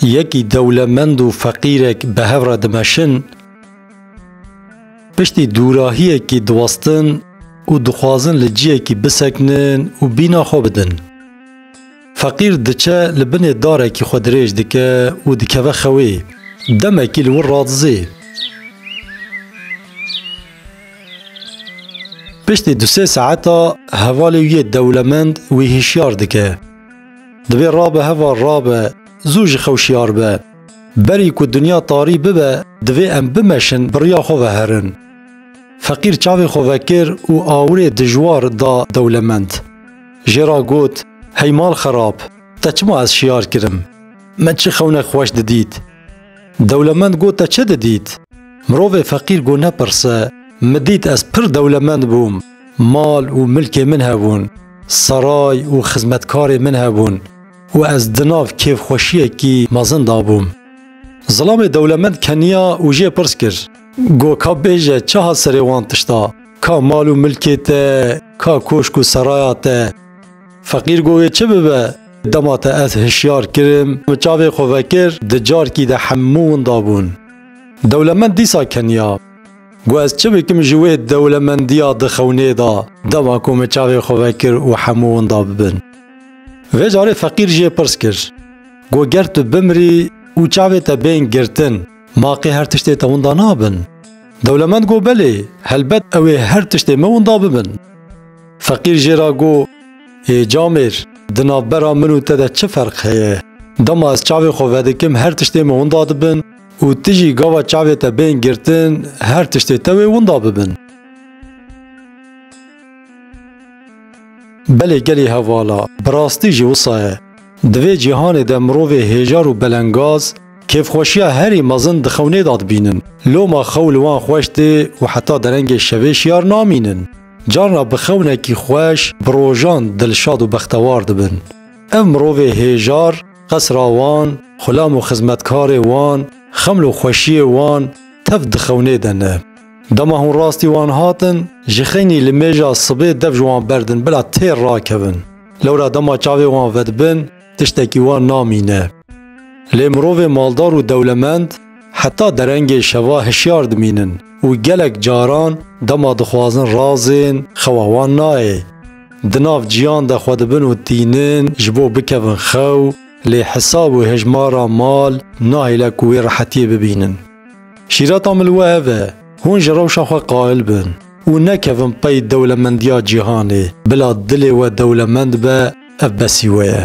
Yekî dewlemend û feqîrek bi hev re dimeşin, piştî dûrahiyekî diwestin û dixwazin li ciyekî bisekinin û bîna xwe bidin. Feqîr diçe li binê darekî xwe dirêj dike û dikeve xewê, demekî li wir radizê. Piştî du sê saeta hevalê wî yê dewlemend wî hişyar dike. Divê rabe heva rabe, zû ji xew şiyar be. Berî ku dinya tarî bibe divê em bimeşin biriya xwe ve herin. Feqîr çavê xwe vekir û awirê dijwar da dewlemend. Jê ra got, Hey mal xerab, te çima ez şiyar kirim? Min çi xewnek xweş didît? Dewlemend got te çi didît? Mirovê feqîr got nepirse, min dît ez pir dewlemend bûm, mal û milkê min hebûn. Saray û xizmetkarên min hebûn û ez di nav kêfxweşiyekî mezin de bûm. Zilamê dewlemend keniya û jê pirs kir. Got ka bêje çi hat serê wan tişta, ka mal û milkê te, ka koşk û seraya te. Feqîr got wê çi bibe, dema te ez hişyar kirim û çavê xwe vekir di carkî de hemû winda bûn. Dewlemend dîsa keniya. Ku ez çi bikim ji wê dewlemendiya di xewnê de dema ku min çavê xwe vekir û hemû winda bibin. Vê carê feqîr jê pirs kir, Ku ger tu bimrî û çavê te bên girtin, maqê her tiştê te winda nabin? Dewlemend got, Belê, helbet ew ê her tiştê min winda bibin. Feqîr jê re got, Ê camêr, di navbera min û te de çi ferq heye? Dema ez çavê xwe vedikim her tiştê min winda dibin, Û tu jî gava çavê te bên girtin, her tiştê te wê winda bibin. Belê gelê hevala, bi rastî jî wisa ye. Di vê cîhanê de mirovê hêjar û belengaz, kêfxweşiya herî mezin di xewnê de dibînin. Loma xew li wan xweş tê û heta derengê şevê şiyar namînin. Carna bi xewnekî xweş, bi rojan dilşad û bextewar dibin. Ev mirovê hêjar, qesra wan, xulam û xizmetkarê wan, xeml û xweşiyê wan tev dixewnê de ne. Dema hûn rastî wan hatin, ji xeynî li mêja sibê dev ji wan berdin bila têr rakevin. Lewra dema çavê wan vedibin, tiştekî wan namîne. Lê mirovê maldar û dewlemend heta derengê şeva hişyar dimînin û gelek caran dema dixwazin razên xewa wan nayê. Di nav ciyan de xwe dibin û tînin ji bo bikevin xew, lê hesab û hejmara mal nahêle ku wê rehetiyê bibînin. Şîreta min li we ev e, hûn ji rewşa xwe qail bin û nekevin pey dewlemendiya cîhanê, bila dilê we dewlemend be ev besî we ye.